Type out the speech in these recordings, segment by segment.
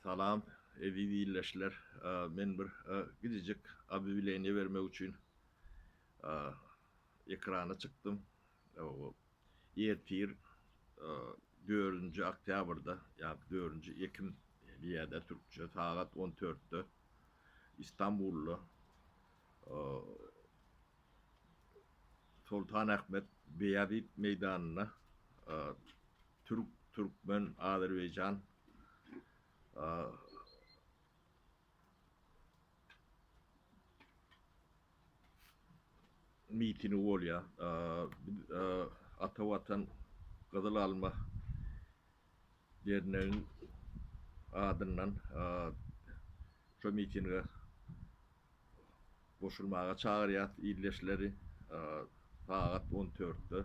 Salam, eziz ildeşler! Men bir kiçijik obýawleniýe bermek üçin ekrana çykdym. Ertir, dördünji oktýabrda, ýa-da dördünji ekim diýýärler türkçe, sagat on dörtde Istanbulda Soltanahmet Beýazit meýdanynda Türk, Türkmen, Azerbaýjan mitingi bolýar. Ata Watan Gyzyl Alma dernegiň adyndan şo mitinge goşulmaga çagyrýas ildeşleri sagat on dörtde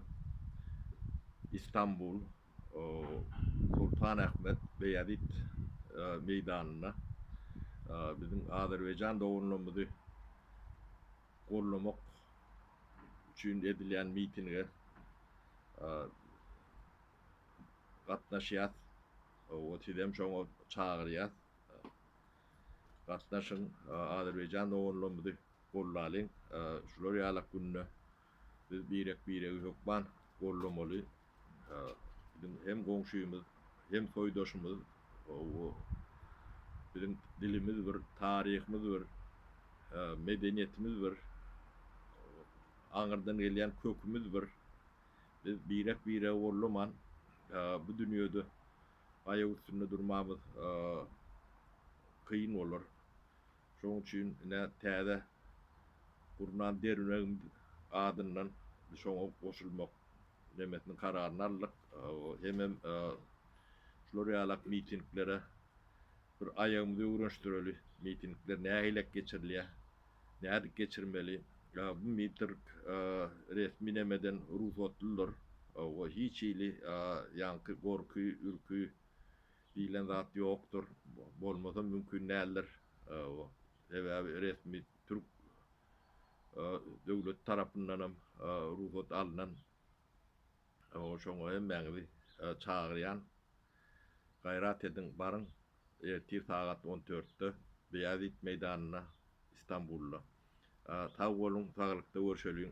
Istanbul Sultanahmet Beýazit meýdanynda biziň Azerbaýjan doganlarymyzy gollamak üçin edilýän mitinge gatnaşýas we sizem şoňa çagyrýas. Gatnaşyň, Azerbaýjan doganlarymyzy gollalyň, şular ýalak günde biz birek-biregi hökman gollamaly, biziň hem goňşymyz, hem soýdaşymyz, biziň dilimiz bir, taryhymyz bir, medeniýetimiz bir, aňyrdan gelýän kökümiz bir, biz birek-biregi gollaman bu dünýede aýak üstünde durmamyz kyn bolar. Şonuň üçin ine täze gurnan derňegimiz adyndan şoňa goşulmak nemesini kararyny aldyk. Hemem şular ýalak mitinglere Bir aýagymyzy öwrenişdireli, mitingler nähilek geçirilýär, nädip geçirmeli? Bu mitrg resmi nemeden rugsatlydyr we hiç hili ýaňky gorky, ürki diýlen zat ýokdur. Bolmasam mümkin däldir. Sebäbi resmi türk döwleti tarapyndanam rugsat alnan Ol şoňa hemmäňizi çagyrýan. Gaýrat ediň, baryň. Ertir sagat on dörtde Beýazit meýdanynda, Istanbulda. Sag boluň, saglykda görşeliň.